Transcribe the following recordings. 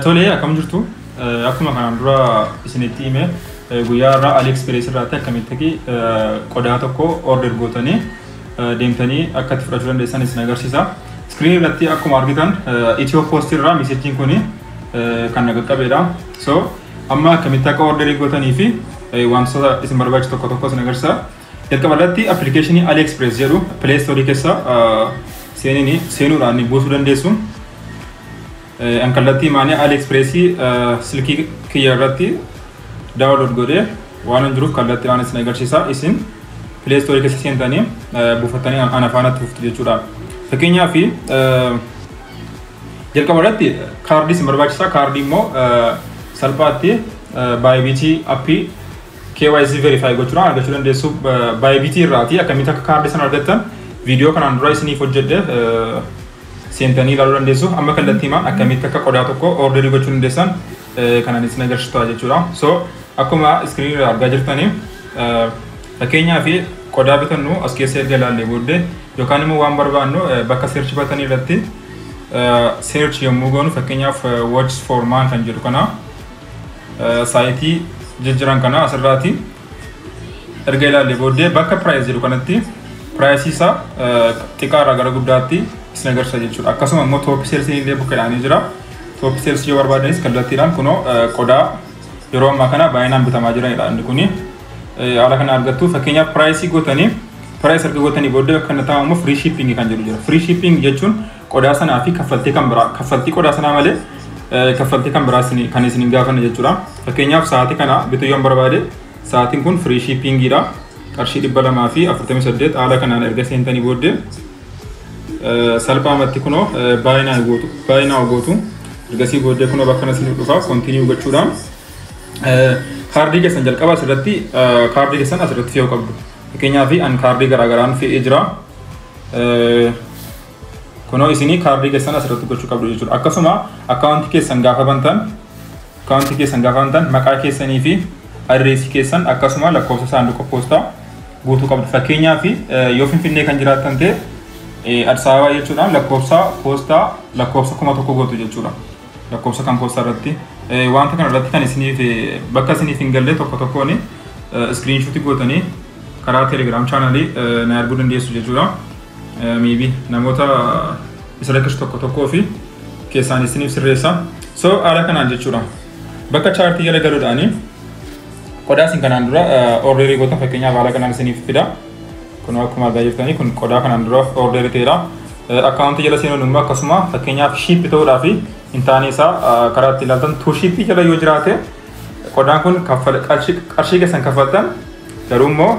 Tolee akkam jirtu akkuma kanaan dura isinitti hime guyyaa irraa AliExpress irraatti akkamitti qodaa tokko order gootanii deemtanii akka itti fudhachuu dandeessan isin agarsiisa. Iskiriin irratti akkuma argitan Itiyoo Post irraa meesejjiin kun kan na qaqqabeedha. So amma akkamitti akka orderii gootanii fi wantoota isin barbaachisu tokko tokko isin agarsiisa. Jalqaba irratti appilikeeshinii AliExpress jedhu Play Store keessa seenini seenuudhaan ni buusuu dandeessu. An kallattii maanii AliExpress silkii kiyya irratti daawunlood godhee waan hin jiruuf kallattii aan isin agarsiisa. Isin Play Store keessa seentanii buufattanii ana faana turtu jechuudha. Fakkeenyaaf jalqaba irratti kaardii isin barbaachisa. Kaardii immoo salphaatti baayibiitii appii KYC verify gochuudhaan argachuu dandeessu Bybit irraati akkamitti akka kaardii sana argattan viidiyoo kanaan dura isiniif hojjedhe seentanii ilaaluu dandeessu amma kallattii himaan akkamitti akka qodaa tokko orderii gochuu dandeessan kanan isin agarsiisu ta'a jechuudha so akkuma iskiriinii irraa argaa jirtanii fakkeenyaa fi qodaa bitannu as keessa erga ilaallee booddee yookaan immoo waan barbaannu bakka seerchi batanii irratti seerchi yommuu goonu fakkeenyaaf watch for man kan jedhu kana saayitii jijjiran kana asirraati erga ilaalle booddee bakka piraayis jedhu kanatti piraayisii isaa xiqqaarraa gara guddaatti isin agarsiisa jechuudha. Akkasuma immoo tooppi seelsiin illee bukkeedhaan ni jira. Tooppi seelsii yoo barbaadanis kallattiidhaan kunoo qodaa yeroo ammaa kana baay'inaan bitamaa jiranidha inni kuni. Haala kana argattu fakkeenyaaf piraayisii gootanii piraayis erga gootanii booddee bakka inni taa'amu firii shiippingii kan jedhu jira. Firii shiippingii jechuun qodaa sanaa fi kaffaltii kan biraa kaffaltii qodaa sanaa malee kaffaltii kan biraa kan isin hin gaafanne jechuudha. Fakkeenyaaf sa'aatii kana bituu yoon barbaade sa'aatiin kun firii shiippiingiidha. Qarshii dhibba lamaa fi afurtamii saddeet haala kanaan erga seentanii booddee salphaamatti kunoo baay'inaa gootu baay'inaa gootu ergasii booddee kunoo bakka kana isin dhufaa kontiiniyuu gochuudhaan kaardii keessan jalqaba asirratti kaardii keessan asirratti fe'uu qabdu. Fakkeenyaaf an kaardii garaagaraan fe'ee jira. Kunoo isinii kaardii keessan asirratti gochuu qabdu jechuudha. Akkasuma akkaawuntii keessan gaafa bantan akkaawuntii keessan gaafa bantan maqaa keessanii fi adreesii keessan akkasuma lakkoofsa saanduqa poostaa guutuu qabdu. Fakkeenyaaf yoo Finfinnee kan jiraattan ta'e Addis Ababaa jechuudhaan lakkoofsa poostaa lakkoofsa kuma tokko gootu jechuudha. Lakkoofsa kan poostaa irratti wanta kana irratti kan isiniif bakka isiniif hin galle tokko tokkoon iskiriinshuutii gootanii karaa telegiraam chaanalii na arguu dandeessu jechuudha. maybe namoota isa rakkisu tokko tokkoo fi keessaan isiniif sirreessa. So haala kanaan jechuudha. Bakka chaartii jala galuudhaani qodaa isin kanaan dura ordeerii goota fakkeenyaaf haala kanaan isiniif fida. Kun akkuma argaa jirtanii kun qodaa kanaan dura ordeerii ta'edha. Akkaawuntii jala seenuun immoo akkasuma fakkeenyaaf shiippi ta'uudhaa fi hin taane isaa karaa itti ilaaltan tuu shiippii jala yoo jiraate qodaan kun qarshii keessan kaffaltan garuu immoo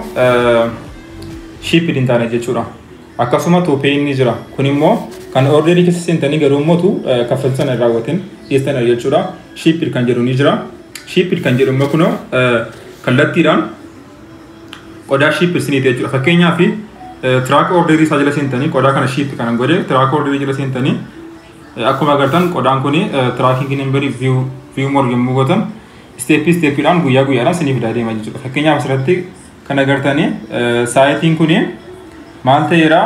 shiipid hin taane jechuudha. Akkasuma tuupee inni jira. Kun immoo kan orderii keessa seentanii garuu immoo tu kaffaltii sana hin raawwatin dhiyeessan jechuudha. Shiipid kan jedhu ni jira. Shiipid kan jedhu immoo kunoo kallattiidhaan qodaa shiipid siniiti jechuudha. Fakkeenyaaf tiraak orderii isaa jala seentanii qodaa kana shiipid kanan godhe tiraak orderii jala seentanii akkuma agartan qodaan kun tiraakiingi nambarii viyuu moor yommuu gootan isteeppii isteeppiidhaan guyyaa guyyaadhaan siniif deema jechuudha. Fakkeenyaaf asirratti Kan agartanii saayitiin kun maal ta'eera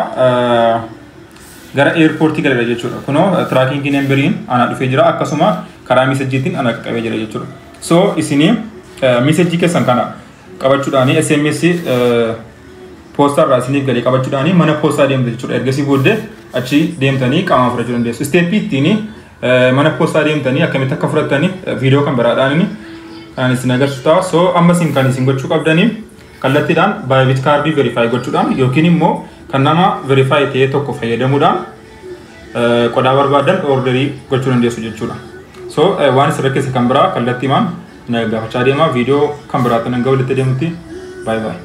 gara eerpoortii galeera jechuudha. Kunoo tiraakiingi nemberiin ana dhufee jira akkasuma karaa miisajjiitiin ana qaqqabee jira jechuudha. So isinii miisajjii keessan kana qabachuudhaanii SMS poostaa irraa isiniif galee qabachuudhaanii mana poostaa deemtu jechuudha. Ergasii booddee achi deemtanii qaamaan fudhachuu dandeessu. Isteeppii ittiin mana poostaa deemtanii akkamitti akka fudhattanii viidiyoo kan biraadhaan inni kan isin agarsiisu ta'a. So amma isin kan isin gochuu qabdanii kallattiidhaan baayibit kaardii verifaayi gochuudhaan yookiin immoo kan nama verifaayi ta'ee tokko fayyadamuudhaan qodaa barbaadan orderii gochuu dandeessu jechuudha. So waan isin rakkise kan biraa kallattiimaan na gaafachaa deemaa viidiyoo kan biraatti nan ga'u walitti deemutti baay'ee baay'ee.